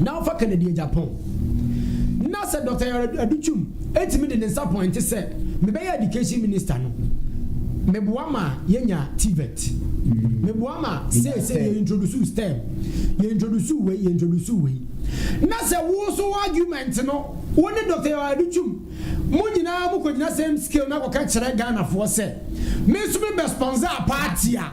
na ɔfa Kennedy agya pɔn. Ná sɛ Dɔkta Aduchum tumi de ne nsa pɔinte sɛ mebɛyɛ Education Minister no, meboa ma yenya TVET. Meboa ma seesei yɛ introduce STEM, yɛ introduce wei, yɛ introduce wei. Na sɛ wo nso wo argument no, wo ne Dɔkta Aduchum, mo nyinaa mokɔgyina same scale na akɔka kyerɛ Ghanafoɔ sɛ, me nso mebɛsponsor party a,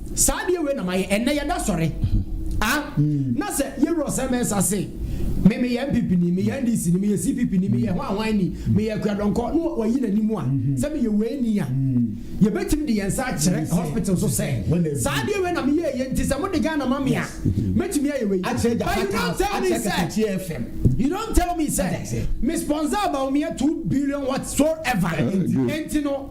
Saa adeɛ wei na mayɛ ɛnɛ yɛda sɔre ah na sɛ yɛwura ɔsɛ mɛnsa se me meyɛ npp ni meyɛ ndc ni meyɛ cpp ni meyɛ hwan hwan ni meyɛ akuadɔnkɔ na wayi n'anim a sɛ meyɛ wei ni a yɛbɛtumi de yɛn nsa akyerɛ hospital so sɛ saa adeɛ wei na meyɛ yɛ nti sɛ mode Ghana ma me a mɛtumi ayɛ wei but you don't tell me sɛ you don't tell me sɛ me sponsor Bawumia two billion whatsoever nti no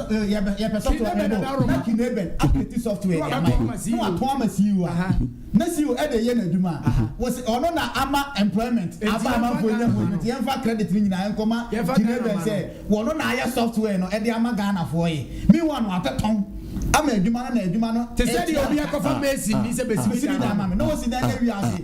yɛpɛ software no ɛbɔ na kinebɛn apɛti software no ama yɛ na watɔn ama CEO a na CEO ɛde yɛ n'adwuma a wɔsi ɔno na ama employment aba amanfoɔ nya mu nti yɛmfa credit no nyinaa nkɔma kinebɛn sɛ wɔno na ayɛ software no ɛde ama Ghanafoɔ yi meanwhile no wabɛtɔn ama adwuma no na adwuma no te sɛ deɛ obi akɔfa mason ni sɛ bɛsimi dan ama me na wɔsi dan yɛ wiase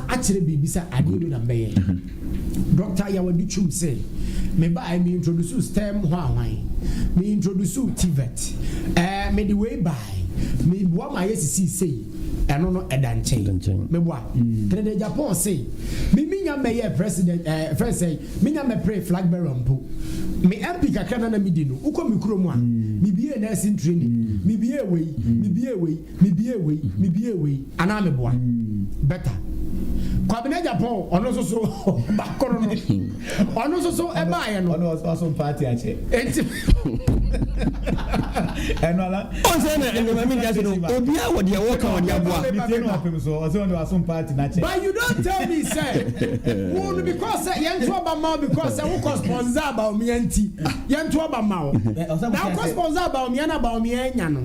akyerɛ biribi sɛ adeɛ wei na mbɛyɛ. Dɔkta Yawadi Twum se, Mebaeɛ me introduce stem hwanhwan, me introduce TVET, ɛɛ mede wei bae, meboa ma yɛsisii sei, ɛno no ɛda nkyɛn. Meboa. Kennedy Agyapong se, Me menya mmɛyɛɛ president, ɛɛ fɛn sɛ, menya mmɛpere flag bearer mpo. Me MP kakra na na medi no, wokɔ me kurom a, mebiee nursing training, mebiee wei, mebiee wei. Mebue wei, mebue wei anaa meboa? Better. Kwabena Agyapong, ɔno nso so ba koro no, ɔno nso so ɛbaeɛ no. Ɔno ɔso party akyɛ. Enti. Ɛno ala. Ɔnsɛ na ɛnna maame nkyɛn no, obiara wɔ deɛ wɔka wɔ deɛ aboa. Mi tie no ɔpem so, ɔsɛ ɔno ɔso party n'akyɛ. But you don't tell me sɛ, wo no because sɛ yɛn to ɔba ma wo because sɛ wo kɔ sponsor abaomia nti, yɛn to ɔba ma wo. Na wo kɔ sponsor abaomia na abaomia anya no.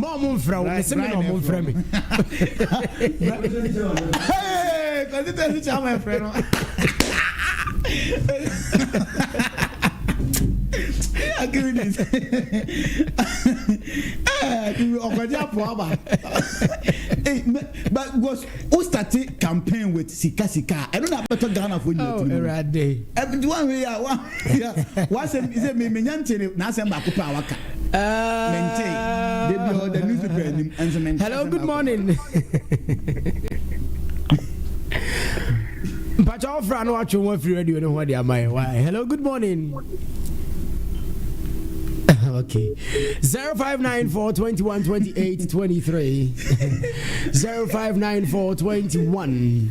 ma ɔmo mfrɛ wo mese me na ɔmo mfrɛ me kɔsi tɛ si kyama mfrɛ no akiri ni ɔkɔgye apo aba because o start campaign with sika sika ɛno na abɛtɔ ghana fo nyina tiri mu ɛwurade ɛbi di wa hwɛ yi a wa. W'asɛm sɛ me menya nte ne n'asɛm baako pɛ a waka. Mente. Da bi ɔda newspaper anim nso mente. Hello, good morning. Mpacha ofra no atwe ho afiri radio no ho de ama yɛ. Why? Hello, good morning. Okay. 0594 21 28 23. 0594 21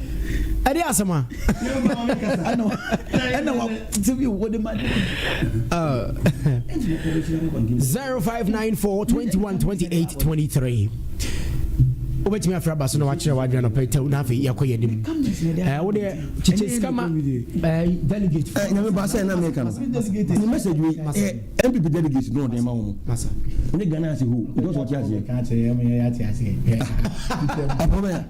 ɛde asɛm a ɛna watete bi wode ma 0594 21 28 23 wobɛtumi afra ba so na wakyerɛ wadwena nɔpɛ tɛw na afei yɛkɔ yɛ nim wodeɛ kyekyɛ sika ma delegate nyame ba sɛ na meka no ne message wei mpp delegate na ɔde ma wo mu ne ghana ase ho because ɔte aseɛ ɛpɔbɛa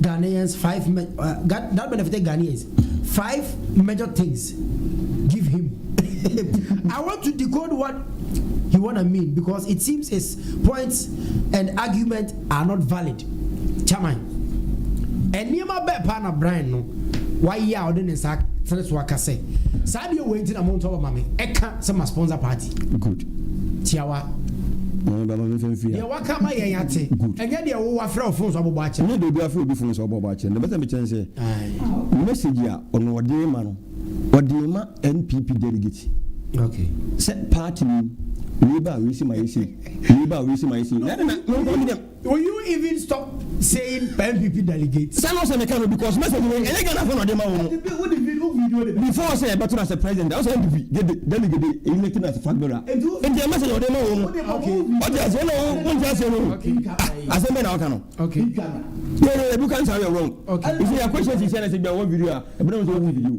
Ghanaians five me uh, Ghan that benefited Ghanaians five major things give him I want to decode what he wanna mean because it seems his points and argument are not valid chairman nneɛma bɛɛ paa na Brian no wayɛ a ɔde ne nsa tere so aka sɛ saa deɛ wei nti na mo ntɔ bɛma me ɛka sɛ ma sponsor party good tiawa. Deɛ waka ama yɛn ate. Ɛnyɛ deɛ wo wafrɛ wo fon so abobɔ akyɛ. Ɛnyɛ deɛ obi afrɛ obi fon so abobɔ akyɛ. Na bɛsɛ mekyɛn sɛ message a ɔno ɔde rema no ɔde rema NPP delegate sɛ party no wei ba a wei se ma yɛ sei, wei ba a wei se ma yɛ sei. Will you even stop saying NPP delegates. Sɛ no sɛ meka no because message wei ɛnyɛ Ghana fo na ɔde ma wo no before sɛ ɛbɛto no asɛ president a ɔsɛ NPP gede delegate eyi ne kina fat bera nti ɛ message ɔde ma wo no ɔte ase ɛna wo wonte ase no ah asɛm bɛ na ɔka no yɛ yɛ yɛ do kan sa yɛ wrong nti yɛ question si sɛ na sɛ gba wɔ video a ɛbɛrɛ wo sɛ wo video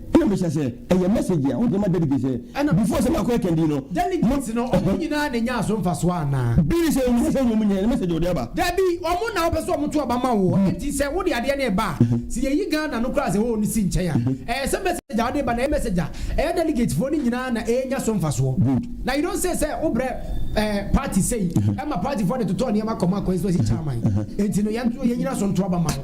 Nna mehyia sɛ ɛyɛ message a wɔde ma delegates ɛ Ɛna before sɛ makɔ ɛkɛndii no ma Delegates no ɔmo nyinaa na enyaa so mfasoɔ anaa? Bi ne sɛ wɔn ankasa na wɔn nyaeɛ, ɛyɛ message a wɔde aba. Dabi, wɔn na wɔpɛ sɛ wɔn to aba ma wo hɔ, enti sɛ wode adeɛ no reba a, sɛ yɛyi Ghana no koraa sɛ hoo no si nkyɛn a, ɛyɛ sɛ message a wode ba no ɛyɛ message a ɛyɛ delegates foɔ no nyinaa na ɛrenya so mfasoɔ. Good. Na you don't say sɛ wobrɛ ɛɛ party sei ɛma party foɔ de totɔ nneɛma kɔma constituency chairman, enti no yɛn nso yɛnyina so nto aba ma wo.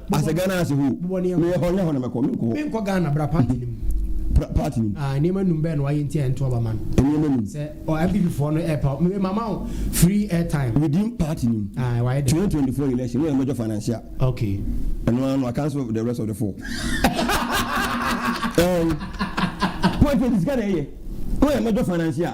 Asɛ Ghana ase hoo. Meyɛ hɔ nyɛ hɔ na mɛkɔ menkɔ hɔ. Menkɔ Ghana bra party no mu. Bra party no mu. Ah nneɛma num bɛn na wayɛ nti a ɛnto aba ma no. Nneɛma num. Sɛ ɔ NPP foɔ no ɛɛpa wo me mama wo free airtime. Within party no mu. Ah wayɛ dɛ. 2024 election woyɛ major financier. Okay. Ɛno ara no wa cancel the rest of the four. Ɛɛn. Politics sika na ɛyɛ. Woyɛ major financier.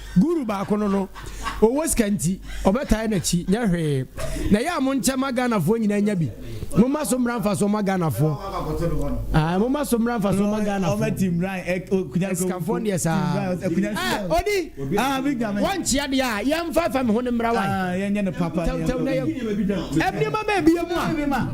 Guru baako no no ɔwɔ sika nti ɔbɛtae nakyi nyɛ hwee na ɛyɛ a monkyɛ ma Ghanafoɔ nyinaa nya bi momma so mmra mfa soɔ ma Ghanafoɔ ah momma so mmra mfa soɔ ma Ghanafoɔ sikafoɔ deɛ saa ah odi wɔnkyea deɛ a yɛmfa fa me ho no mmra wae tɛwtɛw na yɛ ɛmnneɛma ma ɛbia mu a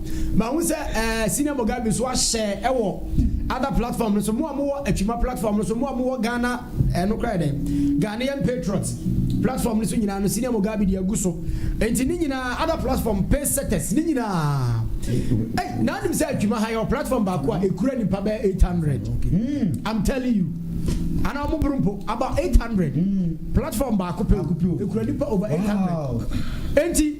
Mahu sɛ ɛɛ Senior Mogabi nso ahyɛ ɛwɔ other platform no so. Mo a mo wɔ Atwima platform no so, mo a mo wɔ Ghana ɛɛ no kora yɛ dɛn? Ghanaian Patriot platform no so nyinaa no Senior Mogabi deɛ agu so. Nti ne nyinaa other platform pace setters ne nyinaa. Ei na anim sɛ Atwima ha yɛ wɔ platform baako a ekura nipa bɛyɛ 800. I'm telling you. Ana ɔmo boro mpo about 800. Platform baako pɛ ekura nipa over 800. Nti.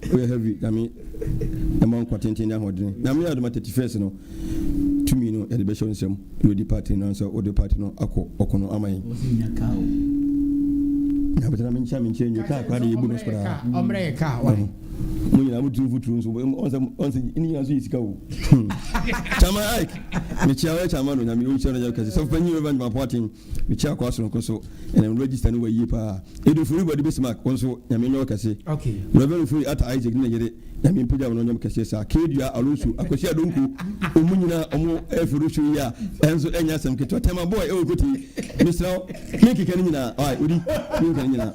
Pray heavy Nyame ɛma wo nkwa tenten ne ahoɔdene. Nyame adom a 31st no tumi no yɛde bɛhyɛ wo nsam na wadi party no ansa wode party no akɔ ɔko no ama yɛn. Wɔsi nya car o. Na bɛtena me nkyɛn me nkyɛn nwie car koraa de yɛbu no koraa. Ɔmrɛ yɛ car why. Mo nyinaa mo tiri mfuturo nso ɔnsɛ ɔnsɛ ne nyinaa nso yɛ sika o. Chama Ike mekyia wo Chama no Nyame ɔnhyira no yɛ kɛse sɔfo panyin Reverend Mapoaten. Mekyia Akoa Soronko nso, ɛnam no register no wa yie paa. Edu Furi Body Base Mark, wo nso Nyame nyɛ wo kɛse. Rev Furi Atta Isaac ne ne yere, Nyame mpagya wɔn ɔnyɛ mo kɛseɛ saa. K-Dua, Alonso, Akwasi Adonko, wɔn nyinaa wɔn ɛforo show yi a, ɛnso ɛnyɛ asɛm ketewa. Tema Boy ɛwɔ Kotee, mesrɛ wo menkeka ne nyinaa, ɔai, odi, menkeka ne nyinaa.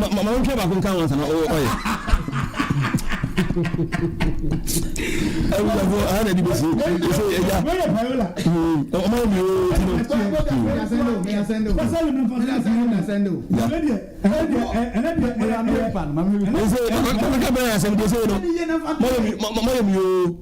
Ma ma wontwa baako nka ho ansa na ɔyɛ. Awurafo aha na ɛde bɛsi. Ɛsɛ ɛgya. Ɔma yɛ mmienu oo ti no. Ɛsɛ ma ma ka bɛrɛ asɛm deɛ sɛ no. Ma yɛ mi ma ma yɛ mi oo.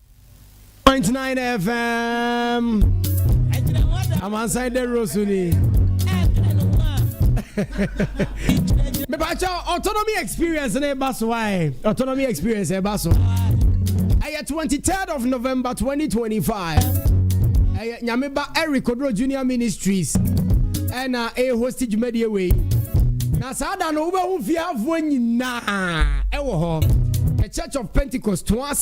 Point nine FM. Amansan de rosu ni. Mepacha autonomy experience ne ba so ai. Autonomy experience e ba so. Ɛyɛ 23rd of November 2025. Ɛyɛ Nyameba Eric Odro Junior Ministries. Ɛna e host dwumadie wei. Na saa da no wobɛhu fiafoɔ nyinaa ɛwɔ hɔ. The Church of Pentecost to us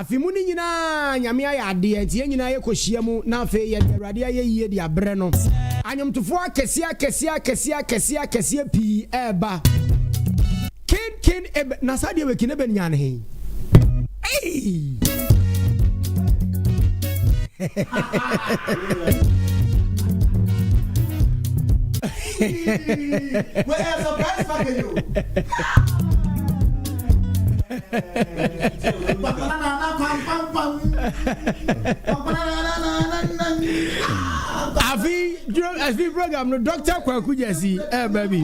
Afe mu no nyinaa Nyame ayɛ adeɛ nti yɛn nyinaa yɛ kɔ hyia mu na afei yɛde Awurade ayɛyie de abrɛ no. Anwomtofoɔ akɛseɛ akɛseɛ akɛseɛ akɛseɛ akɛseɛ pii ɛɛba. Ken Ken Eben na saa deɛ wɛ Ken Eben Nyan he? Eii! Wait, a surprise package. afi duro afi program no dɔkta kwaku gyasi ɛɛba bi.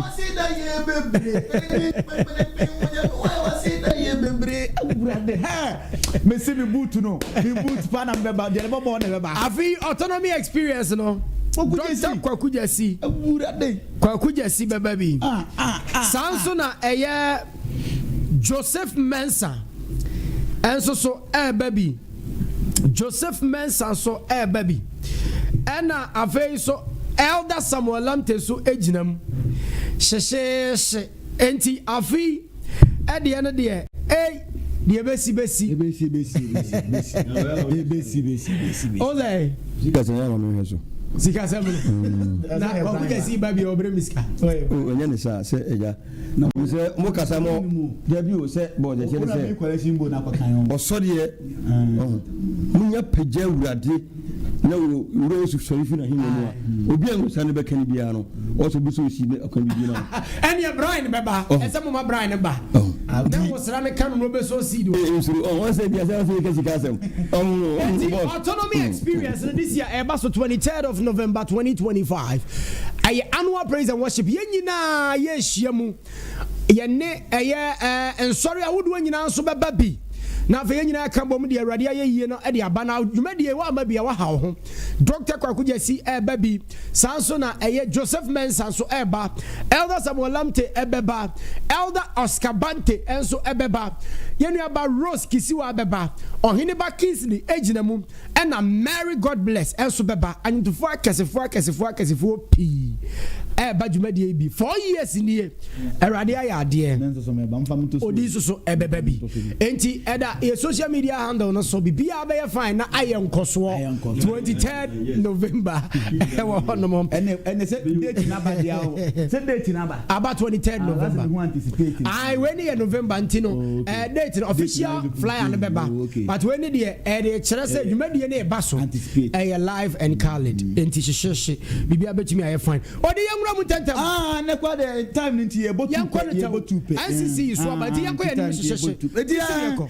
mesi mi boot no mi boot pa na mbɛba deɛ ne bɔbɔ na ɛbɛba. afi autonomy experience no dɔkta kwaku gyasi kwaku gyasi bɛba bi saa nso na ɛyɛ. Joseph Mensah nso so reba bi. Joseph Mensah nso reba bi. Ɛna afei nso Elder Samuel Lamte nso gyina mu. Hyehyeehye. Enti afei ɛdeɛ no deɛ ei deɛ bɛsi bɛsi. Ebesi besi besi besi. Ebesi besi besi besi. Ɔlɛ. Sika sɛ yɛn wɔn hwɛ so. Sika sɛ mu. Na ɔkò jɛ si ba bi ɔbɛrɛ mi sika. O nyɛ ne sa sɛ ɛgya. Na mo sɛ mo kasa mo dabi o sɛ bɔ ɔdɛkyɛ ne sɛ ɔsɔdeɛ ɔho mo nya pagya wurade na wo wura osu sɔre fi na henya mu a obi a nsa ne bɛka ne biara no ɔsɔ bi sɛ osi ne akwan bi ma ɛneɛ Brian ne bɛba ɛsɛ mo ma Brian ne ba na mo sra ne ka no na obɛsɔ osi do nsoro ɔho sɛ bi asɛ ɔsɛ yɛka sika asɛm ɔho autonomy experience no this year ɛba so 23rd of November 2025 Ɛyɛ annual praise and worship. Yɛn nyinaa yɛrehyia mu. Yɛne ɛyɛ ɛɛ nsɔre ahodoɔ nyinaa nso bɛba bi. Na afei yɛn nyinaa ka bom de Awurade ayɛ yie no de aba. Na dwumadie wɔ ama bi a waha wo ho. Dr. Kwaku Gyasi ɛreba bi. Saa nso na ɛyɛ Joseph Mensah nso ɛreba. Elder Samuel Lamptey ɛbɛba. Elder Oscar Bante nso ɛbɛba. Yɛn nuaba Rose Kisiwa ɛbɛba. Ɔheneba Kingsley ɛgyina mu. Ɛna Mary God Bless nso bɛba. Anwontofoɔ akɛsefoɔ akɛsefoɔ akɛsefoɔ pii ɛreba dwumadie yi bi. Four years nie. Awurade ayɛ adeɛ. Odi nso so ɛbɛba bi. Enti ɛda yɛ social media handle no so. Biribiara bɛyɛ fine na ayɛ nkɔsoɔ. 23rd November ɛwɔ hɔ nom. Ɛnɛ sɛ date naba deɛ o. Sɛ date naba. Aba twenty third November. Ayi wei ni yɛ November nti no ɛɛ eh, date no official flyer no bɛba but wei ni deɛ ɛde eh, kyerɛ sɛ dwumadie no ɛba so ɛyɛ eh, live and colored nti hyehyehye biribi abɛtumi ayɛ fine ɔde yɛn nwura mu ntɛntɛm. Aa ah, ne kɔ de time ni nti yɛ bɔ tu pɛ yɛ bɔ tu pɛ. NCC yi so aba nti yɛ kɔ yɛ ni hyehyehye. Eti yɛ kɔ.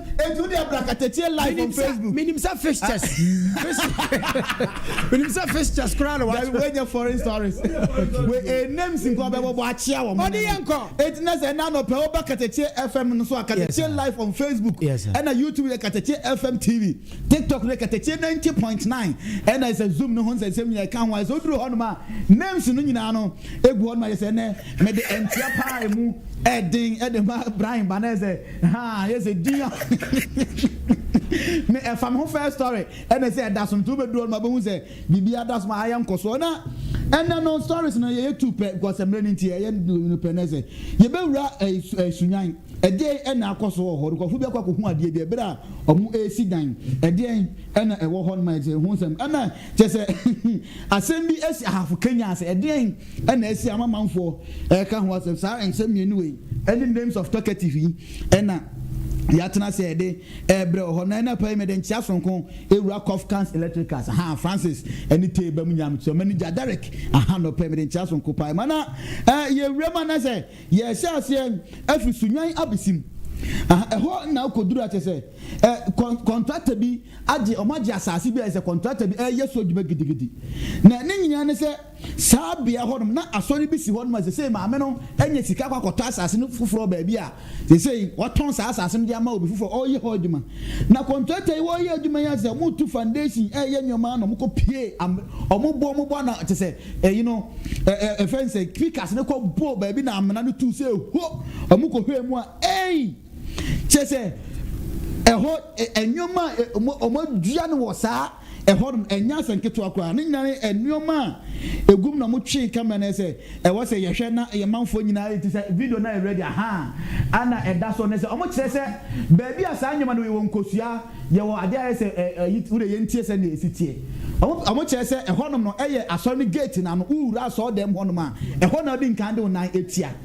Enti wode abra katatie live on Facebook. Menim sɛ fixtures. Menim sɛ fixtures koraa na wakyerɛ. Dabi wɛnyɛ foreign stories. We eh, names nko abɛbɔbɔ akyea wɔn. Ɔde yɛ nkɔ. Enti na sɛ ɛna anɔpɛ woba katatie FM no so a katatie live on Facebook. Yes, sir. Ɛna YouTube yɛ katatie FM TV. TikTok no yɛ katatie 90.9. Ɛna sɛ Zoom no ho nsɛnsɛm nyinaa ɛka ho a sɛ woduru hɔnom a names no nyinaa no egu hɔnom a yɛ sɛ ɛnɛ mede ɛntia paa emu ɛden ɛde ma Brian Banese. Haa ayɛ sɛ din a me ɛfa me ho first story ɛne sɛ ɛdaso nti wobɛduru hɔ no ma bɛhu sɛ biribi adaso ma ayɛ nkɔsoɔ na ɛnɛ no stories no yɛyɛ tu pɛ because mmerɛ no nti ɛyɛ no pɛ nɛ sɛ yɛbɛwura sunyan ɛdeɛn ɛna akɔso wɔ hɔ nkurɔfoɔ bi akɔ akɔhu adeɛ bi ɛberɛ a ɔmo ɛresi dan ɛdeɛn ɛna ɛwɔ hɔ no ma ɛsɛ ho nsɛm ɛna kyɛ sɛ asɛm bi ɛsi ahafo kenya sɛ ɛdeɛn na asi ama manfoɔ reka ho asɛm. Saa nsɛm mmienu wei ne names of talkative yi na yɛatena ase rede rebrɛ wɔ hɔ. Na anɔpa yi mede nkyea sononko awura Kofkans Electricals, ahaa, Francis ne Tee ba mu nyinaa. Mesrɛ manager Derek, ahaa, anɔpa yi mede nkyea sononko paa rema. Na yɛwura mu anaasɛ yɛhyɛ aseɛ afiri Sunyani abɛsi mu, ahaa, ɛhɔ na akɔduru a kyerɛ sɛ kɔntrata bi agye, wɔagye asase bi a ɛsɛ kɔntrata bi reyɛ so adwuma gidigidi. Na ne nyinaa ne sɛ. Saa bea hɔ nom na asɔre bi si hɔ nom a sesei maame no anya sika akɔ akɔtɔ asase no foforɔ baabi a sesei watɔn saa asase no de ama obi foforɔ a ɔreyɛ hɔ adwuma. Na kɔntratɛ yi wɔreyɛ adwuma yi ara sɛ wɔretu foundation reyɛ nneɛma na wɔkɔ pie am wɔn bo wɔn bo ana te sɛ ɛyi no ɛ ɛ ɛfɛn sɛ pikas no kɔ bɔɔ baabi na amena no tu sɛ ho wɔn kɔ hwɛɛ mu a ei kyɛ sɛ ɛhɔ ɛ nneɛma a wɔn wɔn adua no wɔ saa ɛhɔ nom, ɛnyɛ asɛ nketewa koraa. Ne nyinaa ne nnoɔma a ɛgu mu na ɔmo twee camera no ayɛ sɛ ɛwɔ sɛ yɛhwɛ na yɛ manfoɔ nyinaa yɛ ti sɛ video no ayɛ ready ahaa ana ɛda so ne sɛ ɔmo kyerɛ sɛ baabi a saa nnoɔma no wɔ yɛwɔ nkosua yɛwɔ adeɛ ayɛ sɛ ɛ ɛ wo deɛ yɛntie sɛ nea ɛsi teɛ ɔmo ɔmo kyerɛ sɛ ɛhɔ nom no ɛyɛ asɔre no gate no ano wo wura asɔre dɛm hɔ nom a ɛhɔ na wodi nkan de wo nan atia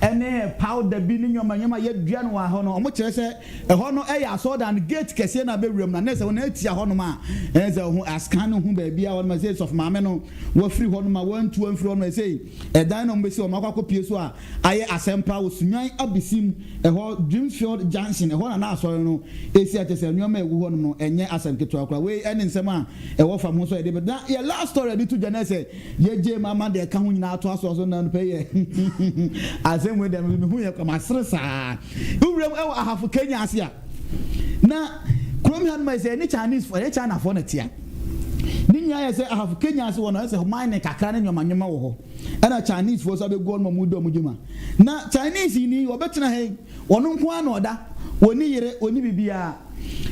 ɛne powder bi ne nneɛma nneɛma a yɛadua no wɔ hɔ no, wɔkyerɛ sɛ ɛhɔ no yɛ asɔredan no gate kɛseɛ no a bɛwuram no a, na ɛsɛ sɛ wɔn atia hɔnom a ɛne sɛ ho ascan no ho baabi a hɔnom a ɛsɛ sɔfo maame no wafiri hɔnom a wɔantu amfiri hɔnom a ɛsɛ ɛdan no a wɔbɛsi wɔn akɔ akɔpie so a ayɛ asɛmpa wɔ Sunyani Abisim ɛhɔ Dreamfield Junction ɛhɔ na na asɔre no si a kyerɛ sɛ nneɛma a ɛgu hɔnom no ɛnyɛ asɛm ketewa koraa wei ɛne nsɛm a ɛwɔ fam ho nso a yɛde bɛ na yɛ last story a yɛde to dwa no ɛsɛ Yɛgyee mu ama deɛ ɛka ho nyinaa atoa so ɔsoro no anɔpa yi ɛ. Asɛm wei deɛ me nso mehuu yɛ kwa masere saa. Wuram wɔ Ahafo Kenya ase a, na kurom hanom ayɛ sɛ ɛne Chinesefoɔ ɛyɛ Chinafoɔ na ɛtea. Ne nyinaa yɛ sɛ Ahafo Kenya ase hɔ no ayɛ sɛ mining kakra ne nneɛma nneɛma wɔ hɔ. Ɛna Chinesefoɔ nso abɛgu hɔ nom a wɔredi wɔn dwuma. Na Chinese ni wɔbɛtena ha yi. Ɔno nko ara na ɔda. Ɔnni yere, ɔnni biribiara.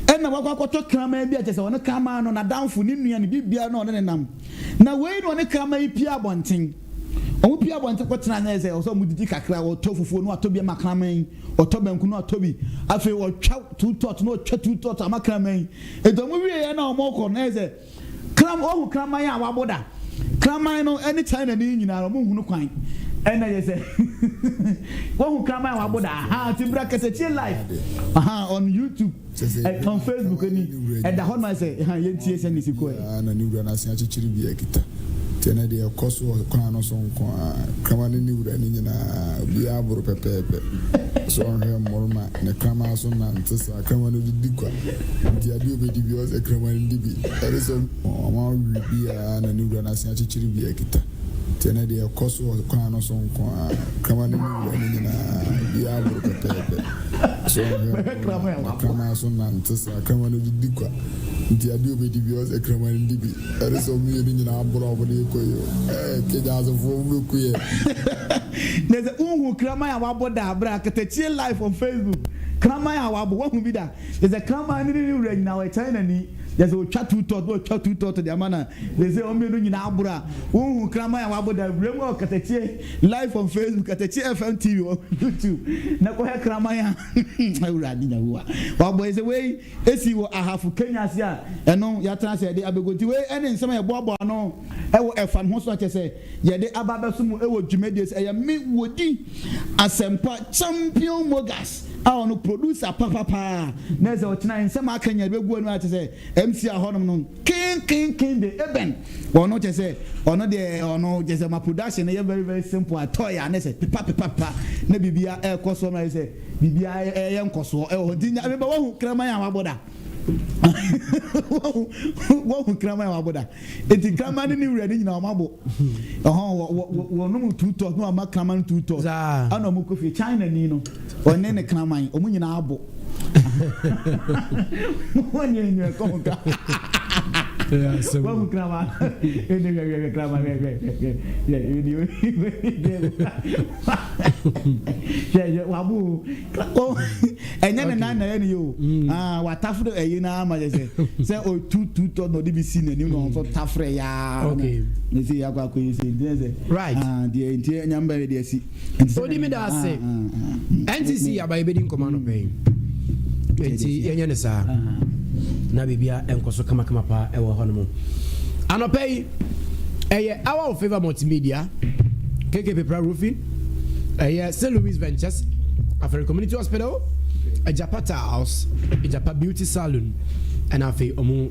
Ɛnna wakɔ akɔtɔ kraman bi a kyerɛ sɛ ɔno kraman no, n'adamfo, ne nua, ne biribiara na ɔne no nam. Na wei na ɔne kraman yi pue abɔnten. Wɔpue abɔnten kɔtena ase sɛ ɔsɛ sɛ wɔdidi kakra, ɔtɔ fufuo na watɔ bi ama kraman yi, ɔtɔ banku na watɔ bi. Afei ɔtwa two tot na ɔtwa two tot ama kraman yi. Enti wɔwieeɛ na wɔrekɔ no, na ayɛ sɛ. Kram, woahu kraman a wabo da? Kraman no ne Chinani nyinaa ɔmo nhu no kwan. Ɛna yɛ sɛ woahu kraman a wabo da? Aha, ti bra kɛsɛ tie live. Aha, on YouTube, eh, on Facebook ni. Ɛda hɔ no ma sɛ, ha, yɛntie sɛ ne si kɔɛ. Biara na ne wura no ase akyekyere bi akita. Nti ɛnɛ deɛ ɛkɔ so wɔ kwan no so nko ara. Kraman ne ne wura no nyinaa, obiara boro pɛpɛɛpɛ. Ɛsɛ sɛ ɔhwɛ mmoroma ne kraman so nante saa. Kraman no de di gua nti adeɛ a ɔbɛdi biara ɔsɛ kraman no di bi. Ɛne sɛ ɔma awe biara na ne wura no asan akyekyere bi akita nti ɛnnɛ deɛ ɛkɔ so wɔ kwan no so nko ara. Kraman no ne wura no nyinaa biara aboro pɛpɛɛpɛ so ɔnhwɛ nko na na kraman so nante saa. Kraman no de di gua nti adeɛ a ɔbɛdi biara ɔsɛ kraman no di bi. Ɛne sɛ wɔn mmienu nyinaa aboro a wɔde rekɔ yi o. Ɛɛ Kenyaasefoɔ mobɛku yɛn. Nɛsɛ wonhu kraman a wabɔ da bra katakyie live on Facebook. Kraman a wabo, wahu bi da? Kyerɛ sɛ kraman no ne ne wura nyinaa wɔkyerɛ n'ani. Kyerɛ sɛ otwa tu tɔt na otwa tu tɔt de ama no a, kyerɛ sɛ wɔn mmienu nyinaa aboro a. Wonhu kraman a wabo da? Wura mu a ɔkatakyie live on Facebook, katakyie FM TV wɔ YouTube na kɔhwɛ kraman a Awurade Nyahowa wabɔ yi sɛ wei. Esii wɔ Ahafo Kenya ase a ɛno yɛatena ase a yɛde abegu. Nti wei ɛne nsɛm a yɛboaboa ano ɛwɔ ɛfam ho so a kyɛsɛ yɛde aba abɛso mo ɛwɔ dwumadie ase. Ɛyɛ me Wodi Asɛmpa Champion Mogas a ɔno producer papa paa na ɛsɛ ɔkyena nsɛm a aka nyinaa yɛde bɛgu ano a kyɛsɛ ɛmsia hɔnom no. Kenkenken de ebɛn? Ɔno kyerɛ sɛ ɔno deɛ ɔno kyerɛ sɛ ma production no yɛ very very simple a toy a ne sɛ pepa pepa pepa na biribia ɛɛkɔ soɔ ma ayɛ sɛ biribia ɛɛyɛ nkɔsoɔ ɛwɔ hɔ nti nya meba wahu kraman a wabɔ da wahu wahu kraman a wabɔ da nti kraman ne ne wura ne nyinaa wɔn abɔ ɔhɔn wɔ wɔ wɔnom two tours na wɔn ama kraman two tours ɛna wɔn kɔ fie China ni no. Ɔne ne kraman, wɔn nyinaa abo. Wɔn nyɛ nyɛ kɔ ho ka. Wɔn mu kraman, ɛdi hwɛ hwɛ hwɛ kraman hwɛ hwɛ hwɛ hwɛ ɛdi o ɛdi o hwɛ hwɛ wabo o ɛnyɛ ne nan na ɛyɛ ne yɛ o aa watafo do ɛyi na ama yɛ sɛ sɛ o tu tu tɔ na ɔde bi si n'anim na ɔnso tafrɛ yaa ne se yɛ akɔ akɔ yi se nti sɛ right deɛ nti ɛnyɛ mbɛ yɛ deɛ si. Odi me da ase. NCC aba yɛbɛdi nkɔmɔ anɔpɛ yi. Nti yɛnyɛ ne saa. Na biribia ɛnkɔ so kamakama paa ɛwɔ hɔ no mu. Anɔpɛ yi ɛyɛ Hour of Favor Multimedia, KK Pepra Roofing, ɛyɛ St. Louis Ventures, Afere Community Hospital, Ajapata House, Ajapa Beauty Salon, ɛna afei ɔmo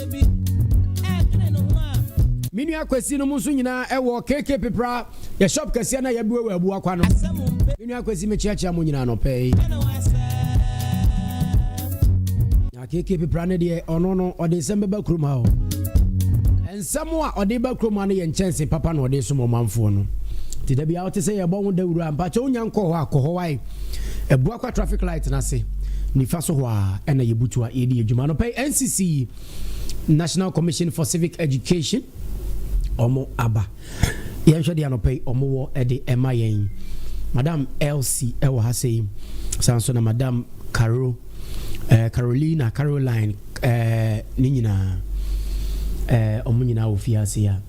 me nua kwasi no mu nso nyinaa ɛwɔ keke pepra yɛ shop kɛseɛ na yɛbua wɔ abua kwa no me nua kwasi mekyeakyea mo nyinaa nɔpɛ yi na keke pepra no deɛ ɔno no ɔde nsɛm bɛba kurom ha o nsɛm a ɔde ba kurom ha no yɛ nkyɛnse papa na ɔde som ɔmanfoɔ no nti da bia wote sɛ yɛbɔ wo dawuro a mpakyɛ wonya nkɔ hɔ akɔ hɔ wae Abuakwa traffic light no ase nifa so hɔ a ɛna yɛbutu a yɛdi adwuma no pɛi ncc national commission for civic education ɔmo aba yɛnhwɛ deɛ anɔpɛ yi ɔmo wɔ ɛde ɛma yɛn madam elsie ɛwɔ ha sɛ yi san so na madam caro eh, carolina caroline eh, ne nyinaa eh, ɔmo nyinaa wɔ fie ase a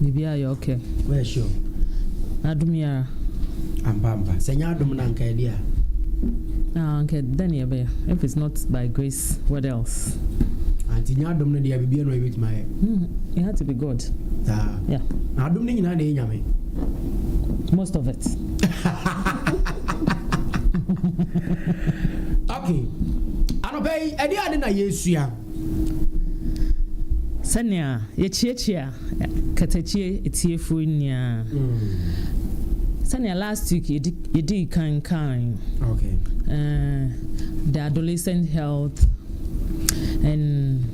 Biribiara yɛ okay. Woyɛ sure? Adom yi ara. Ampa ampa. Sɛ ɛnyɛ adom no a anka ɛdeɛ a? Ah, anka dɛn na yɛbɛyɛ? If it's not by grace, what else? Ah, nti nyɛ adom no deɛ biribiara na yɛbɛtumi ayɛ. Hmm, it had to be God. Ah. Yeah. Na adom no nyinaa na ɛyɛ nyame. Most of it. okay. Anɔpɛ yi, ɛdeɛ ade na yɛsua? Sɛnea yekyiakyia katakyie atiefo ni a, sɛnea last week yedi yedii kan kan Okay. uh, the adolescent health and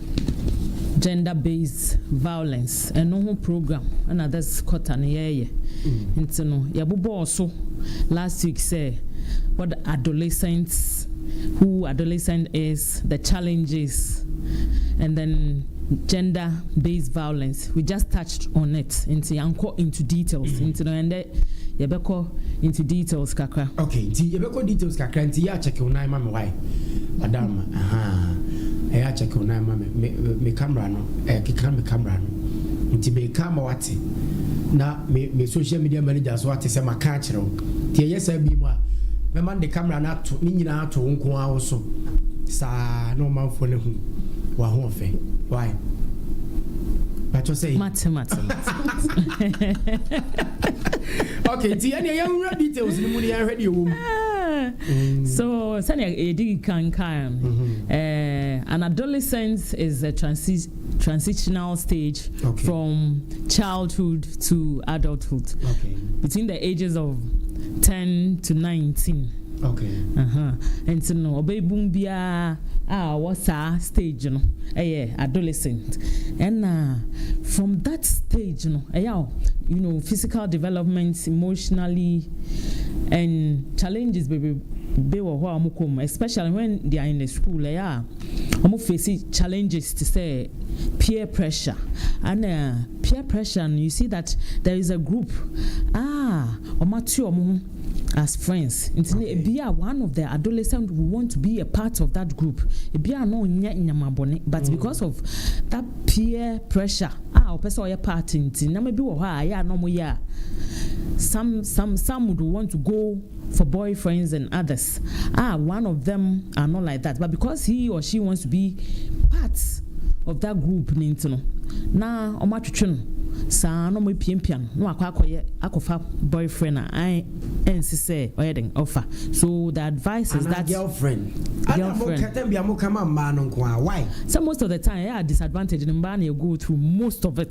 gender based violence ɛno ho program ɛna this quarter no yɛyɛ nti no yɛbobɔɔ so last week sɛ what adolescents who adolescent is the challenges and then gender based violence we just touched on it nti yankɔ into details mm-hmm. nti no ɛndɛ yɛbɛkɔ into details kakra. okay nti yɛbɛkɔ details kakra nti yɛ akyɛkew nan ma mi wae madam ɛyɛ akyɛkew nan ma mi mi camera no ɛkeka mi camera no nti mi ka ma wate na mi mi social media manager so wate sɛ ma ka akyerɛw. Nti ɛnyɛ saa bio a, mɛma no de camera no ato, ne nyinaa ato wo nko ara wo so saa na ɔmanfoɔ no ahu w'ahoɔfɛ. Why? Bɛtɔ sɛ. Mate, mate, mate. Okay, nti ɛneɛ yɛnwura details no mu ne yɛnhwɛ deɛ wɔ mu. Ah, so sɛnea yɛdi kan kan, mm-hmm. eh, an adolescent is a transition transitional stage okay. from childhood to adulthood okay. between the ages of 10 to 19 okay. uh-huh. nti no ɔbɛbum biara a ɔwɔ saa stage no ɛyɛ adolescent ɛna from that stage no ɛyɛ you know physical development emotionally and challenges bebrebe wɔ hɔ a wɔkɔ mu especially when they are in the school ɛyɛ a Ɔmo face challenges te sɛ peer pressure ɛna peer pressure no you see that there is a group a ɔmo ate ɔmo ho as friends nti no ebi a one of the adolescent will want to be a part of that group ebi a no nyɛ nyama bɔne but mm. because of that peer pressure a ɔpɛ sɛ ɔyɛ part nti nam ebi wɔ hɔ a ɛyɛ a na ɔmo yɛ a some some some would want to go for boyfriends and others ah one of them are not like that but because he or she wants to be part of that group no nti no na ɔmo atwetwe no saa na ɔmo apiapia no na wakɔ akɔyɛ akɔfa boyfriend a ɛnsi sɛ ɔyɛ den ɔfa so the advice is that girlfriend girlfriend sɛ most of the time ɛyɛ a disadvantage no mbaa na ɛgo through most of it.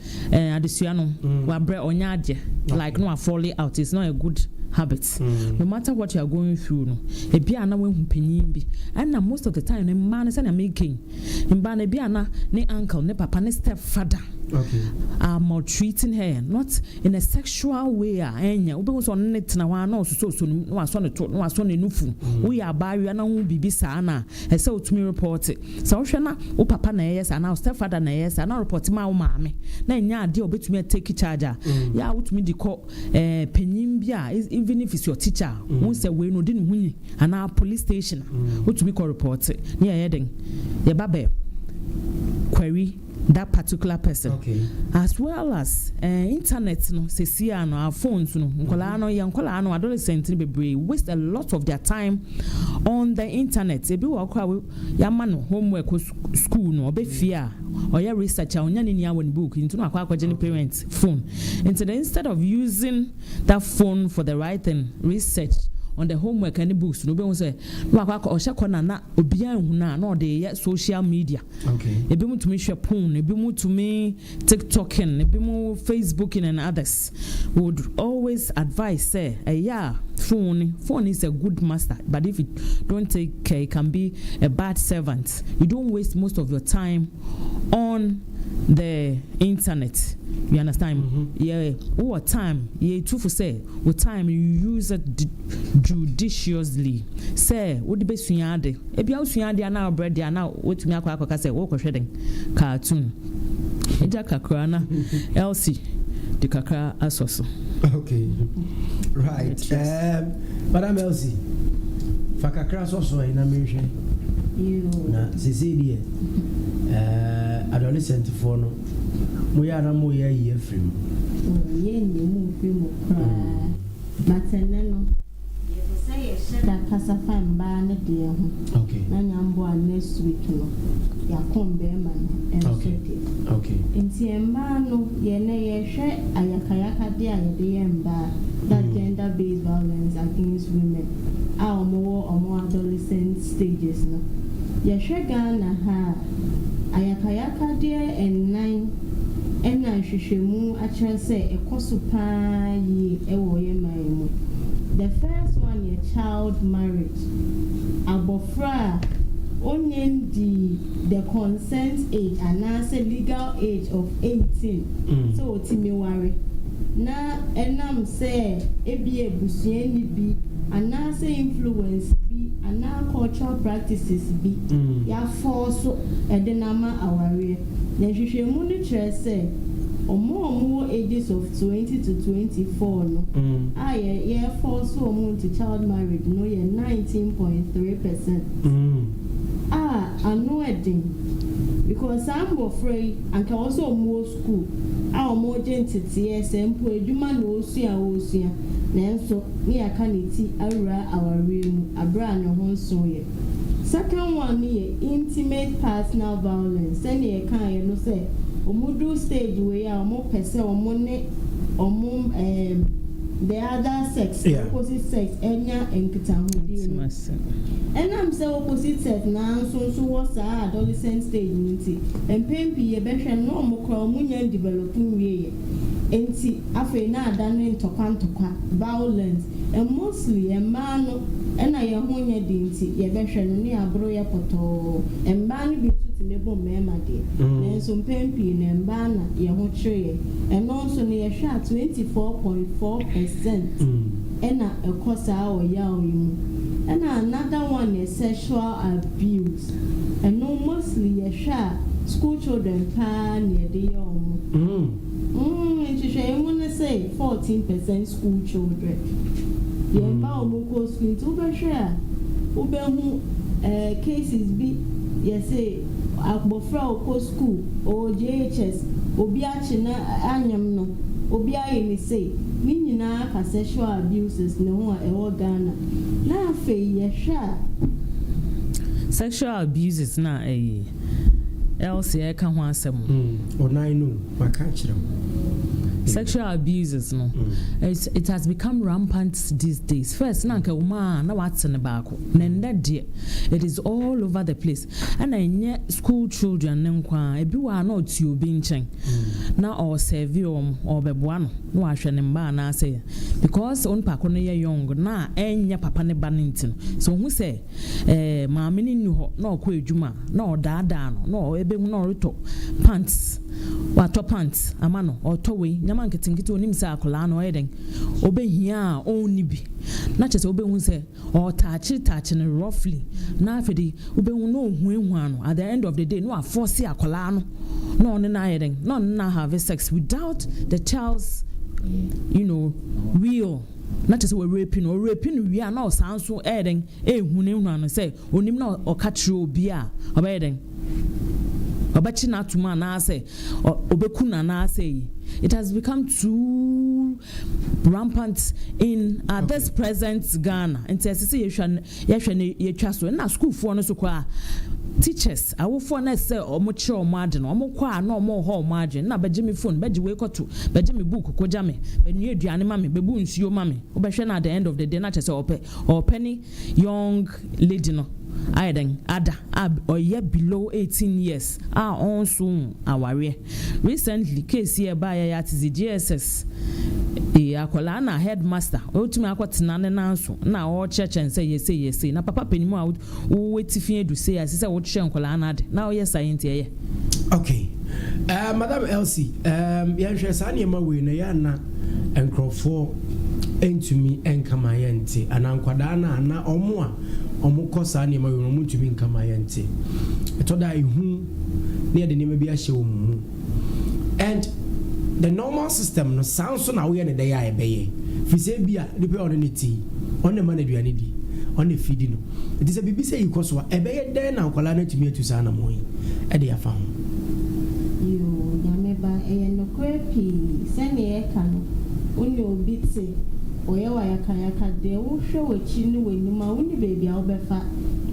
eh, adesua no mm. wabrɛ ɔnyɛ adeɛ like no afɔle out it's not a good habit mm. no matter what you are going through no ebi a na wahu panyin bi ɛna most of the time ne mmaa no sɛnea mekan mmaa no ebi a na ne uncle ne papa ne step father okay. are maltreating her not in a sexual way a ɛnyɛ wobɛhu sɛ ɔno ne tena hɔ a na ɔsosɔsɔ no na wasɔ ne to na wasɔ ne nufu mm. woyɛ abaayewa na ho biribi saa na Ɛsɛ otumi repɔte. Sɛ wohwɛ na wo papa na ɛyɛ saa anaa wo step father na ɛyɛ saa na ɔrepɔte ma wo maame na ɛnyɛ adeɛ a ɔbɛtumi a take charge a, yɛ a wotumi de kɔ eh, panyin bi a even if it's your teacher a wohu sɛ wei no ɔde ne ho nyi anaa police station a wotumi kɔ repɔte ne yɛyɛ den yɛba bɛ kwari that particular person as well as eh, internet no sɛsi a no our phones no nkɔlaa no yɛ nkɔlaa no adolescent no bebree waste a lot of their time on the internet ebi wɔ kora yɛama no homework school no ɔbɛ fie a ɔyɛ research a ɔnya ne nia wɔ ne book nti no akɔ akɔgye ne parent phone nti no instead of using that phone for the right thing research on the homework and the books no bɛhu sɛ Na wakɔ akɔ ɔhyɛ kɔ na na obiara nhu no a na ɔde yɛ social media. Ebinom tumi hwɛ porn, ebinom tumi tiktoking, ebinom facebooking and others would always advise sɛ ɛyɛ a phone phone is a good master but if you don't take care it can be a bad servant. You don't waste most of your time on the internet you understand mm -hmm. yɛ wowɔ time yɛ tufo sɛ wo time you use it judiciously sɛ wode bɛsua ade ebia wosua ade anaa wobrɛ de anaa wotumi akɔ akɔka sɛ wokɔhwɛ den cartoon ɛgya kakra na elsie de kakra asɔ so okay right um, madam elsie fa kakra sɔ so ɛ na menhwɛ na sesei deɛ Ɛɛɛɛɛ adolescent foɔ no mo yɛ a na mo yɛ ayi afiri mu. Oh yɛ nyi mo nfiri mu koraa but ɛnɛ no yɛ pɛ sɛ yɛ hyɛ da kasa fa mbaa ne deɛ ho okay na nya mboa next week no yɛ akɔ mbɛɛma no nso okay deɛ okay. Nti mbaa no yɛ nɛ yɛ hwɛ ayakayaka deɛ a yɛ de yɛ mbaa that gender based violence against women a ɔmo wɔ ɔmo adolescent stages no. Yɛhwɛ Ghana ha a, ayakayakadeɛ nnan na nhwehwɛmu akyerɛ sɛ ɛkɔ so pa ara yie wɔ yɛn man yi mu. The first one yɛ child marriage, abɔfra a ɔnnya nnii the consent age anaasɛ legal age of 18 sɛ ɔtumi ware. na ɛnam sɛ ebia abusuani bi anaasɛ influence bi anaa cultural practices bi yɛafɔɔso de no ama awareɛ. Na nhwehwɛmu no kyerɛ sɛ wɔn a wɔwɔ ages of 20 to 24 no a yɛrefɔɔso wɔn into child marriage no yɛ 19 point three percent a ano ɛden because saa mmɔfra yi anka ɛwɔ sɛ wɔwɔ sukuu a wɔregye nteteɛ sɛ mpo adwuma na ɔresua a ɔresua nanso ne yɛaka ne ti awura awareɛ mu berɛ a ne ho nso yɛ. Second one no yɛ intimate partner violence sɛdeɛ yɛkaeɛ no sɛ wɔduru stage wei a wɔpɛ sɛ wɔn ne wɔn ɛɛm the other sex no Yeah. opposite sex nya nkitahodie no ɛnam sɛ opposite sex no ara nso nso wɔ saa adolescent stage no nti. Ntsi mpɛn pii yɛbɛhwɛ no na ɔmo koraa ɔmo nnya nndivɛlɔp nwieyɛ. Ntsi afei na adan no ntɔkwa ntɔkwa, vaolɛns. Ɛn mostli mbaa no nna yɛnho nnyɛ den ntsi yɛbɛhwɛ no na yɛaboro yɛ pɔtɔɔ. Mbaa no bi so tse mebɔ mbɛɛma deɛ, naaso mpɛn pii no mbaa na yɛnho kyer yɛn. Ɛno nso no yɛhwɛ a twenty four point four pɛsɛnt nna ɛkɔ saa ɔyaw yi mu. Nna anada wan yɛ sɛhyoal abius. Ɛno mostly yɛ hwɛ a school children paa na yɛde yɛ ɔmo. Umm nhwehwɛeɛ mu ne se 14 percent school children yɛn mma ɔmo nkɔ school nti wo bɛ hwɛ a wo bɛ hu eh cases bi yɛse abɔfra ɔkɔ school ɔwɔ JHS obi a. akye na anyam no obi aye me sei ne nyinaa ka sexual abuses ne ho a ɛwɔ Ghana na afei yɛhwɛ a. Sexual abuses na ɛye Elsie ɛreka ho asɛm no. Onan no maka akyerɛ wo. Sexual abuses no it has become rampant these days first na anka ɛwɔ mu a na wate ne baako na ɛnnɛ deɛ it is all over the place. Ɛna ɛnyɛ school children no nko ara, ebi wɔ a na ɔte obi nkyɛn na ɔresɛɛve wɔn, ɔrebɛboa no na wahwɛ ne mma anaasɛ because onipa ko no yɛ young na ɛnyɛ papa ne ba no nti no, sɛ ɔhu sɛ ɛɛ maame no nni hɔ na ɔkɔ adwuma a, na ɔdaadaa no na ɛbɛhu na ɔretɔ pants, watɔ pants ama no, ɔretɔ wei, nneɛma nketenkete, ɔnim sɛ akwadaa no ɔyɛ dɛn, ɔbɛhia a ɔnni bi na kyerɛ sɛ ɔbɛhu sɛ. Ɔɔtaakye taakye no roughly na afei de wobɛhu na ɔhuahua no at the end of the day na wafɔɔse akwadaa no na ɔne no ayɛ dɛn? Na ɔne no ahave sex without the child's you know will na kyerɛ sɛ wɔrepi no ɔrepi no wie a na ɔsan so ɛyɛ dɛn? Ɛrehunahuna no sɛ ɔnim na ɔka kyerɛ obi a ɔbɛyɛ dɛn? Ɔbɛkye no atom anaasɛ ɔbɛku no anaasɛ yi it has become too rampant in at this present Ghana nti ɛsɛ sɛ yɛhwɛ no yɛhwɛ no yɛtwa so ɛna sukuufoɔ no so koraa teachers awofoɔ no ɛsɛ wɔn kyerɛ wɔn ade no wɔn kɔ a na wɔn hɔ wɔn adwene na bɛgye me phone bɛgye wei kɔto bɛgye me book kɔgya me bɛnua aduane ma me bɛbu nsuo ma me wobɛhwɛ no at the end of the day na kyerɛ sɛ ɔpɛ ɔpɛ ne young lady no ayɛ dɛn ada a ɔyɛ below eighteen years a ɔnnso hu awareɛ. Recently case yi ɛbaeɛ yɛ atedze JSS eh akwadaa na headmaster otumi akɔ tena ne nan so na ɔrekyerɛkyerɛ no sɛ yɛ sei yɛ sei na papa panin mu a wo wo atifi adu sei a ɛsɛ sɛ wokyerɛ nkwadaa no ade na woyɛ saa yi nti ɛyɛ Okay ɛɛm madam Elsie ɛɛm yɛnhwɛ saa nneɛma wei na yɛ ana nkurɔfoɔ ntumi nka ma yɛnte anaa nkwadaa no a na ɔmo a ɔmo kɔ saa nneɛma wei ɔmo ntumi nka ma yɛnte ɛtɔ da ehu ne yɛde nneɛma bi ahyɛ wɔn mu and the normal system no saa nso na woyɛ ne dɛ yɛ a ɛbɛyɛ firi sɛ bi a nipa ɔne ne ti ɔne ma no aduane di ɔne fidi no Enti sɛ biribi sɛɛ yi kɔ so a, ɛbɛyɛ dɛn na nkwadaa no atumi atu saa anammɔn yi de afa ho? Yoo, Nyame ba, ɛyɛ nokorɛ pii, sɛdeɛ yɛka no, wo ne obi te, ɔyɛ wo ayakayaka, deɛ wohwɛ w'akyi ne w'anim a, wonni baabi a wobɛfa,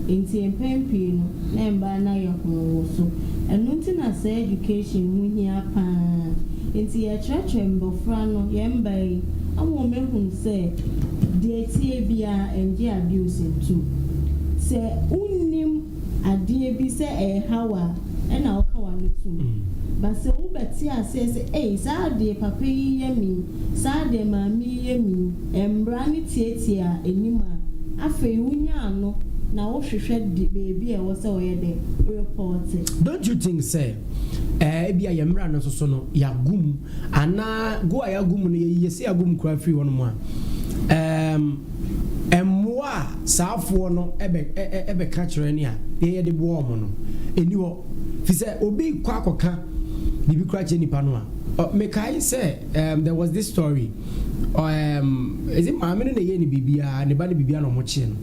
enti mpɛn pii no, na mmaa no ayɛ hoo wo so. Ɛno nti na saa education ho hia pa ara. Enti yɛkyerɛkyerɛ mmɔfra no, yɛn mmaa yi, ama wɔahunu sɛ, deɛ. tee biara ɛngye abuse ntom. Sɛ wonnim adeɛ bi sɛ ɛɛha wo a ɛna woka w'ano tom. But sɛ wo bɛ te aseɛ sɛ ei saa adeɛ papa yi yɛ me yi, saa adeɛ maame yi yɛ me yi, ɛmbra ne tiatia anim a, afei wo nya ano na wo hwehwɛ de baabi a ɛwɔ sɛ ɔyɛ dɛ, wo report. Don't you think sɛ ɛɛ ebia yɛn mmra no nso so no y'agu mu. Anaa gu a yɛagu mu no, yɛyi yɛse agu mu koraa firi hɔ nom a, ɛɛm, mmoa a saa foɔ no ɛbɛ, ɛ, ɛ, ɛbɛka kyerɛ ne a yɛ, yɛde boa wɔn no, ɛnni hɔ. Firi sɛ obi kɔ akɔka biribi koraa kyerɛ nipa no a, ɔ, mekae sɛ, ɛɛm, there was this story, ɔ, ɛɛm, is it maame no na ɛyɛɛ no biribi a, ne ba no biribi a na wɔkyee no.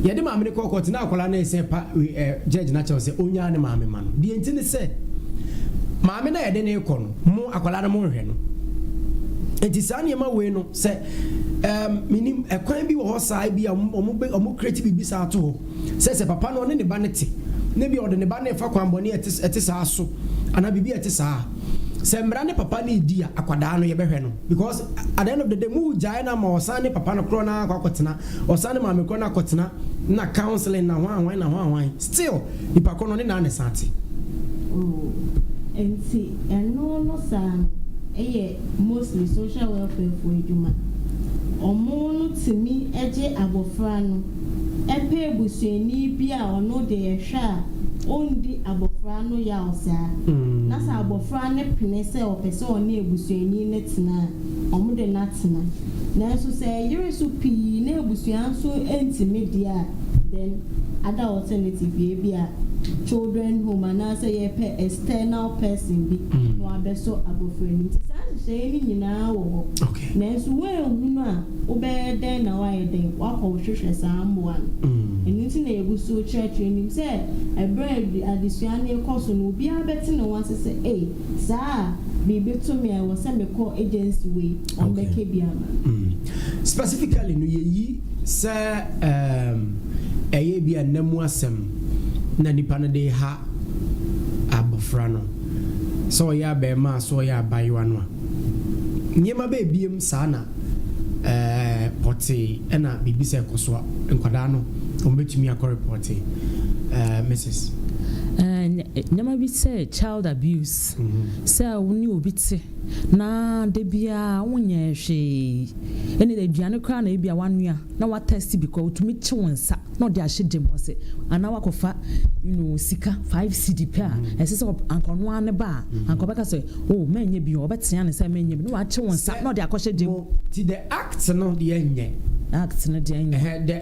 Yɛde maame no kɔɔ kɔɔte na akwadaa no resɛ pa we ɛ gyɛɛgye no akyɛw sɛ ɔnnyaa ne maame mma no. Deɛ nti ne sɛ, maame no a yɛde no rekɔ no, mo akwadaa no monhwɛ no. Nti saa nneɛma wei no sɛ um, menim ɛkwan bi wɔ hɔ saa bi a wɔn kreti biribi saa to hɔ sɛ sɛ papa no ɔne ne ba no te na bi a ɔde ne ba no refa kwan bɔne a ɛte saa so anaa biribi a ɛte saa sɛ mmara ne papa no redi a akwadaa no yɛbɛhwɛ no because at the end of the day mu gyae no ama ɔsan ne papa no korɔ no akɔ akɔtena Ɔsan ne maame kɔ na kɔtena na counseling na hwan hwan na hwan hwan still nipa koro no ne naa na ɛsan te. Oh ɛnti ɛno no saa no ɛyɛ mostly social welfare foɔ adwuma ɔmo no tumi ɛgye abɔfra no ɛpɛ abusuani bi a ɔno deɛ yɛhwɛ a ɔndi abɔfra no yaw saa na sɛ abɔfra no pene sɛ ɔpɛ sɛ ɔne abusuani no tena a wɔde no atena. Nanso sɛ ɛyere so pii na abusua nso ntumi deɛ a, then other alternative yɛ ebi a children home anaasɛ yɛpɛ external person bi na wabɛsɔ abɔfra no mu. Nti saa nhyehyɛeɛ no nyinaa wɔ hɔ. Nanso woanhunu a, wobɛyɛ dɛn na woayɛ dɛn? Woakɔhwehwɛ saa mmoa no. Ɛno nti na yɛgu so kyerɛkyerɛ. Nim sɛ ɛberɛ a adesua no rekɔ so no, obiara bɛte ne ho ase sɛ, Ei! Saa a, meebeto me a ɛwɔ sɛ mekɔ agency wei wɔn bɛka bi ama. Specifically no yɛyi sɛ um, ɛyɛ ebi a nna mu asɛm na nipa no de ha abɔfra no sɛ ɔyɛ abɛɛmaa so ɔyɛ abaayewa no a nneɛma bɛɛbiem saa na uh, pɔtee ɛna biribi sɛ ɛkɔ so a nkwadaa no wɔn bɛtumi akɔ repɔte uh, Mrs. Uh, nneɛma bi sɛ child Child abuse, sɛ wo ne obi te na da biara wonyɛ hwee, ɛnna aduane koraa na ebi a wanoa na watɛste bi koraa, otumi kye wo nsa na ɔde ahyɛ dam hɔ sɛ, anaa wakɔfa you know, sika five cedi pɛ a mm. ɛsɛ sɛ anka ɔno ara ne ba a mm. anka ɔbɛka sɛ o oh, mɛnyɛ bi ɔbɛtea ne sɛ mɛnyɛ bi na wakye wo nsa na ɔde akɔhyɛ dam. ti the act no deɛ nyɛ. act no deɛ nyɛ.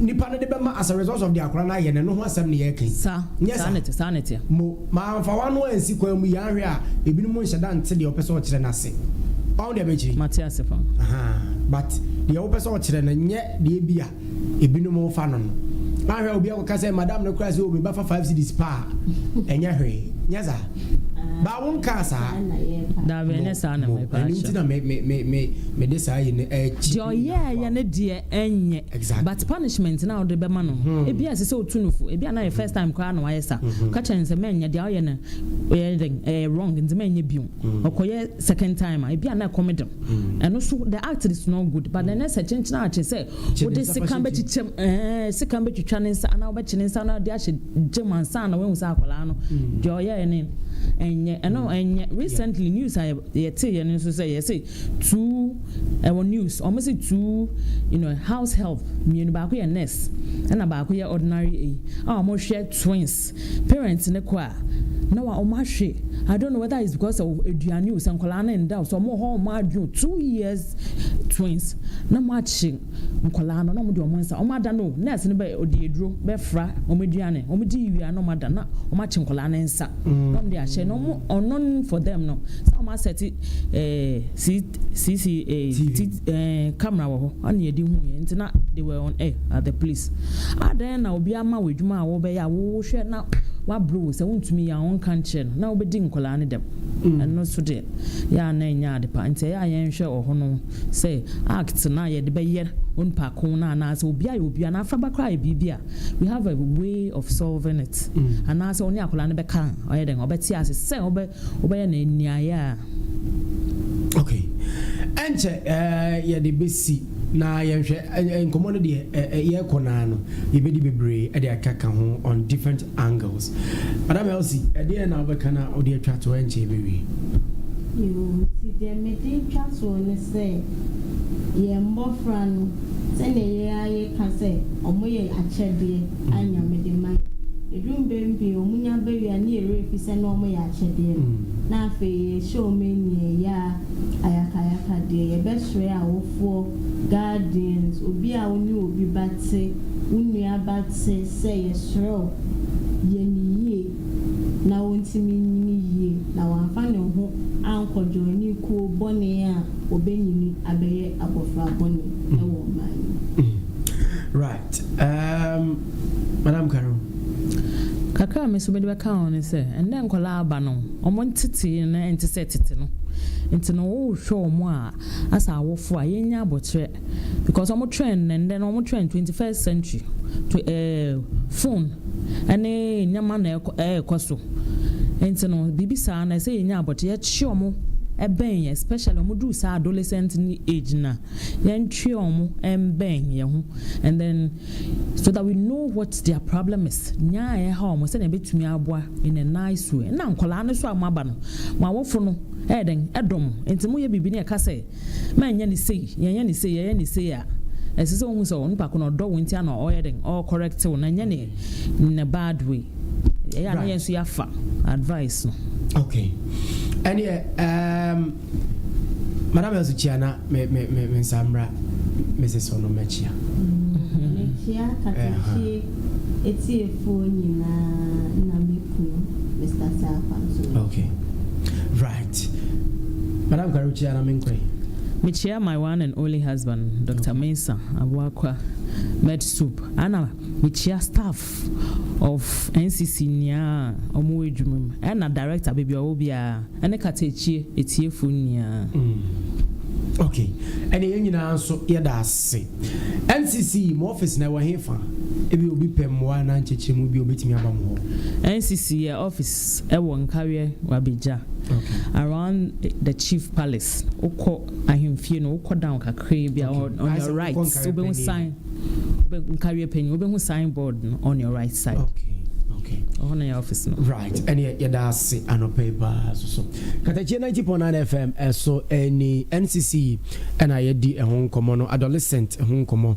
nipa no de bɛma as a result of deɛ akwadaa no ayɛ no, ɛno ho asɛm na yɛreka yi. Sa, Nyɛ saa saa? ne te, saa ne teɛ. Mo, ma amfa w'ano ansi kwan mu yɛ ahwɛ a, ebinom nhyɛ da nte deɛ ɔpɛ sɛ ɔkyerɛ no ase. Wahu deɛ mekyerɛ yi? Mate ase fa. Ahaa, but deɛ wopɛ sɛ ɔkyerɛ no, nyɛ deɛ ebi a ebinom refa no no. Ahwɛ a obi akɔka sɛ, madam no koraa sɛ, oh, me ba fa five cedis pa a, ɛnyɛ hwee. Nyɛ saa. Baa wonkaa saa. Daabi, ɛnyɛ saa na Mo, ɛno nti mepaakyɛw. na me, me, me, me, mede saa yi no akyi. Deɛ ɔyɛɛyɛ no deɛ, ɛnyɛ but punishment no a wode bɛma no no ebia ɛsɛ sɛ otu no fo ebia na yɛ first time koraa na wayɛ sa ka kyerɛ no sɛ mɛnyɛ deɛ ɔyɛ no ɛyɛ dɛn ɛyɛ wrong nti mɛnyɛ bio ɔkɔyɛ second time a ebia na ɛkɔm de ɛno so the act is not good but ɛnɛ sɛ kyenkyena akye sɛ wode sika bɛkyekyɛm ɛɛ sika bɛtwitwa ne nsa anaa wobɛkye ne nsa na de ahyɛ gyem ansa na wahu sɛ akwadaa no deɛ ɔyɛɛ ne ɛnyɛ ɛno ɛnyɛ recently news a yɛte yɛ no nso sɛ yɛse Two, ɛwɔ news, wɔn se two you know house help mmienu, baako yɛ nurse ɛna baako yɛ ordinary eyi a wɔn hwɛ twins, parents no kɔ a na wa wɔn ahwe, I don't know whether it's because sɛ aduane o, sɛ nkwadaa no nda o, sɛ wɔn wɔ hɔ wɔn adwene o, two years twins na wɔn akye nkwadaa no na wɔn de wɔn nsa, wɔn ada no o, nurse no bɛ ɔde aduro bɛfra wɔn aduane, wɔn di wie a na wɔn ada na wɔn akye nkwadaa no nsa na wɔn de ahyɛ na wɔn ɔnon for them no, sɛ wɔn asɛte. ɛɛ CCA ti ɛɛ camera wɔ hɔ ɛna yɛde hu yɛn nti na they were on air at the place adɛn na obi ama wɔ adwuma a wɔbɛyɛ a wɔhwɛ na wabere wo sɛ wontumi yɛ a wɔnka nkyerɛ no na wobɛdi nkwadaa no dɛm mm. ɛno so deɛ yɛ a na ɛnyɛ ade pa nti ɛyɛ a yɛnhwɛ wɔ hɔ no sɛ act no a yɛde bɛyɛ onipa ko no anaasɛ obi ayɛ obi anaa afraba koraa yɛ biribi a we have a way of solving it mm. anaasɛ ɔne akwadaa no bɛka ɔyɛ dɛn ɔbɛte ase sɛ ɔbɛ wobɛyɛ no aniayɛ a. Ok, ɛnkyɛ yɛde bɛsi na yɛnhwɛ nkɔmmɔ no deɛ yɛrekɔ no ara no, yɛbɛdi bebree de aka ka ho on different angles. Madam Elsie, ɛdeɛ na wobɛka na wode atwa toɔ ɛnkyɛ yɛbɛwie. Yoo, nti deɛ mede twa toɔ ne sɛ, yɛn mmɔfra no, sɛdeɛ yɛn ara yɛka sɛ wɔyɛ akyɛdeɛ. a Nyame de ma yɛn. Ɛduru mberɛ pii wɔn nya ba wie a ne yɛ werɛ fi sɛ na wɔn yɛ akyɛdeɛ no na afei yɛ hyɛ wɔn aniɛ yɛ a ayakayaka deɛ yɛ bɛ srɛ awofoɔ, guardians, obi a wo ne obi ba te, wo nua ba te sɛ yɛ srɛ wo yɛ ne yie na wɔn ntumi nyini yie na wɔn amfa ne ho ankɔ joini kuo bɔne a wɔbɛ nyini abɛyɛ abɔfra bɔne wɔ ɔman yi mu. Ɛɛm, Madam Kareem. Kakra a me nso mede bɛka ho ne sɛ, nnɛ nkwadaa a aba no, wɔn ntetee no nte sɛ tete no. Nti no, wohwɛ wɔn a, as awofo a, yɛnnya aboterɛ because wɔn trend nnɛ, nnɛ no wɔn trend twenty first century to ɛɛ phone ɛne nneɛma na ɛkɔ ɛɛkɔ so. Nti no, biribi saa no ɛsɛ yɛnya aboterɛ, yɛkye wɔn bɛn especially wɔn duru saa adolescent ne age no a. yɛntwe wɔn mmɛn yɛn ho and then so that we know what their problem is nea a ɛha wɔn sɛnea ebetumi aboa in a nice way ɛna nkwadaa no so a wɔaba no wɔn awofo no ɛyɛ dɛn ɛdɔ mo nti mo yɛ biribi na ɛka sɛ mɛnyɛ ne sei yɛnyɛ ne sei yɛyɛ ne sei a ɛsɛ sɛ wɔn sɛ wɔn nipa ko na ɔdɔ wɔn nti ana ɔyɛ dɛn ɔkɔrɛkte wɔn na ɛnyɛ ne in a bad way ɛyɛ ana yɛn nso yɛafa advice no. okay ɛne ɛɛm. Um, Madam nso kyia na me me me me nsa mmra Mrs. Onomakyia. Mekyia Katakye etiefoɔ nyinaa na me kunu Mister Saakwa nso mekyia. Okay right Madam Kare wokyia na menkɔe. Mekyia my one and only husband Doctor Mensah Abuakwa Med Soup ɛna mekyia staff of NCC nyiaa ɔmo wɔ edwuma mu ɛna director beebi ɔwɔ biara ɛne katakyie etiefo nyiaa. Mm ok ɛne yɛn nyinaa nso yɛda ase NCC mo office na ɛwɔ he fa ebi obi pɛ mmoa anaa nkyekyeremu bi obetumi aba mo hɔ. NCC yɛ office ɛwɔ nkaweɛ wɔ abegya ok around the chief palace wokɔ ahemfie no wokɔ down kakraa bi a ok on your right wobɛhu sign. Bɛ nkareɛ panyin wobɛhu sign board no on your right side. Okay. Okay. Ɔhɔ na yɛ office no. Right. Ɛne yɛda ase anɔpa yi paa so so. Katakyie 90.9 FM ɛso ɛni NCC ɛna yɛdi ɛho nkɔmɔ no adolescent ɛho nkɔmɔ.